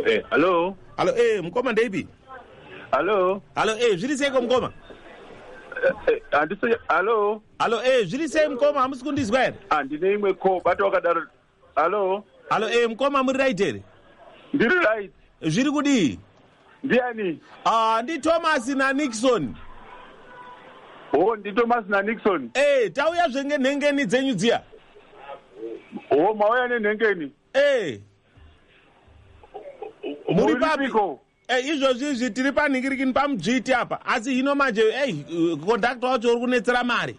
Eh, hallo hallo e eh, mukoma ndeipi hallo hallo e eh, zviri seiko mukoma handisi hallo hallo e zviri sei mukoma hamusi kundizwa here handine imwe ko bata wakadaro hallo hallo e mukoma muri right here ndiri right zviri kudii ndiani ah ndi thomas nanixon o oh, ndi thomas nanixon e eh, tauya zvenge nhengeni dzenyu dziya o oh, mauya nenhengeni e eh. muri papiko Eh, izvozvi izvi tiri panhingirikini pamudzviti apa asi hino manje ei eh, kondakta wacho uri kunetsera mari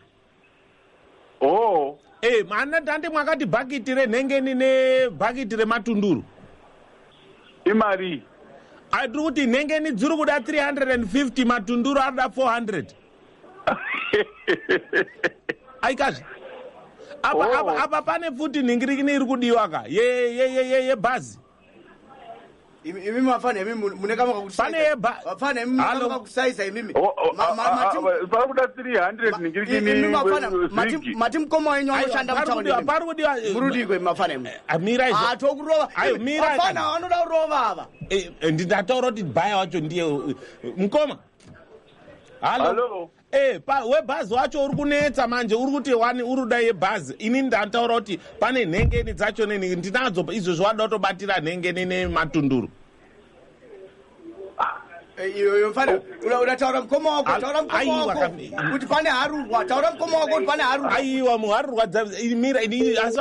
oh eh mana tande mwakati bhakiti renhengeni nebhakiti rematunduru imari ah, tiri kuti nhengeni dziri kuda 350 matunduru anoda 400 aikazve apa, oh. apa, apa pane futi nhingirikini iri kudiwa ka yebhazi ye, ye, ye, ye, imi mafana imi mune kama kakusaizafana imi mune kama kakusaiza imimi oh, oh, ah, ah, ah, pari kuda 300 ningirikini mati mukoma wenyu anoshanda mutaunipari kudiwa eh, murudiko imi mafana imi eh, eh, mira izvo ato kurova mafana vanoda kurova ava ndataura kuti baya wacho ndiye mukoma halo Eh, pa, webhazi wacho uri kunetsa manje uri kuti wani uri kuda yebhazi ini ndataura kuti pane nhengeni dzacho neni ndinadzo izvo zviwada kutobatira nhengeni nematunduru eh, iyoyo mfana uda taura mukoma wako taura mukoma wako kuti pane harurwa taura mukoma wako kuti pane harurwa aiwa muharurwa mira ini asi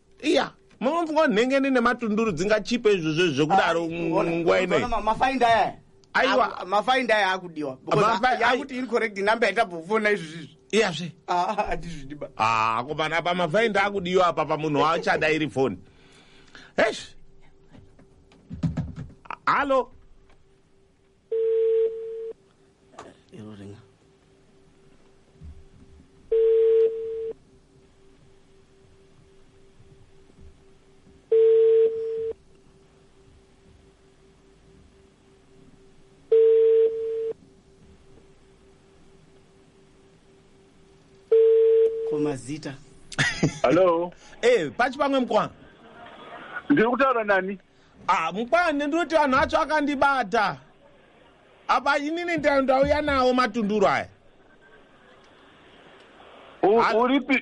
iya mumwe mfunga nhengeni nematunduru dzingachipe izvo zve zvekudaro nguva inei mafaindi aya aiwa mafaindi aya akudiwa akuti iri correct number yaita bhofona izvi zvizvi iyazve hatizvidiba ah, ah, komana apa mafaindi akudiwa apa pamunhu waachada iri foni esh hallo mazita hallo e eh, pachi pamwe mkwana ndiri kutaura nani ah, mukwande ndinoti vanhu vacho akandibata apa inini ndauya nawo matunduru aya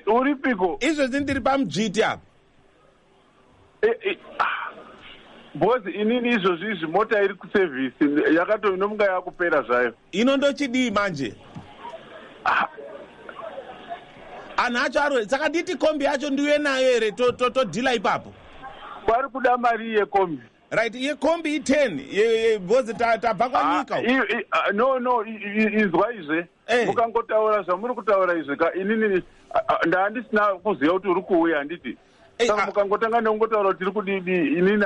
uripiko izvezvi ndiri pamudzviti apa eh, eh, ah. bhozi inini izvozvi izvi mota iri kusevhisi yakatoinomunga yakupera zvayo ino ndochidii manje ah. anhu acho arwere saka nditi kombi yacho ndiuye nayo here todhila to, to ipapo vari kuda mari yekombi right yekombi iten because tabva kwanyika ah, ah, no no izwa izve eh. mukangotaura zvamuri kutaura izve ka inini ah, ndaandisina kuziva kuti uri kuuya handiti saka mukangotanga nekungotaura tiri kudidi inini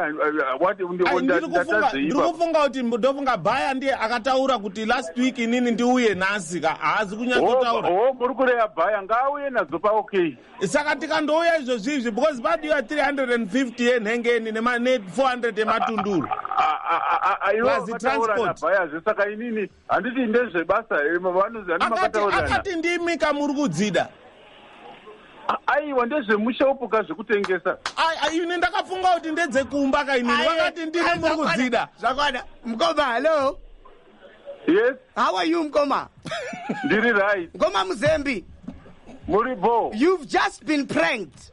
ndiri kufunga kuti ndofunga baya ndiye akataura kuti last week inini ndiuye nhasi ka haazi kunyatsotaura ho muri kureya baya ngaauye nadzo paokay saka tikandouya izvozvi izvi because vadi ya 350 yenhengeni ne400 yematunduru plus transport baya zve saka inini handiti ndezvebasa here vanonzi ane makataurirana akati ndimi kamuri kudzida aiwa ndezvemushopu ka zvekutengesa ini ndakafunga kuti ndedzekumba ka inini vakati ndimi muri kudzida zvakwana mukoma hallo yes how are you mukoma ndiri right mukoma muzembi muri bo you've just been pranked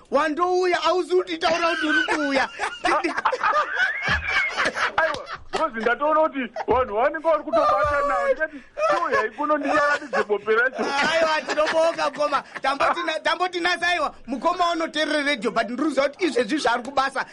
wandouya hauzi kutitaura kuti uri kuuya aiwa bhozi ndatoona kuti vanhu vanenge vari kutobata navo ndikati tiuyai kuno ndicharatidze bope racho aiwa tinobonga mukoma tambotinasa aiwa mukoma unoterere redio but ndiri kuziva kuti izvezvi zvaari kubasa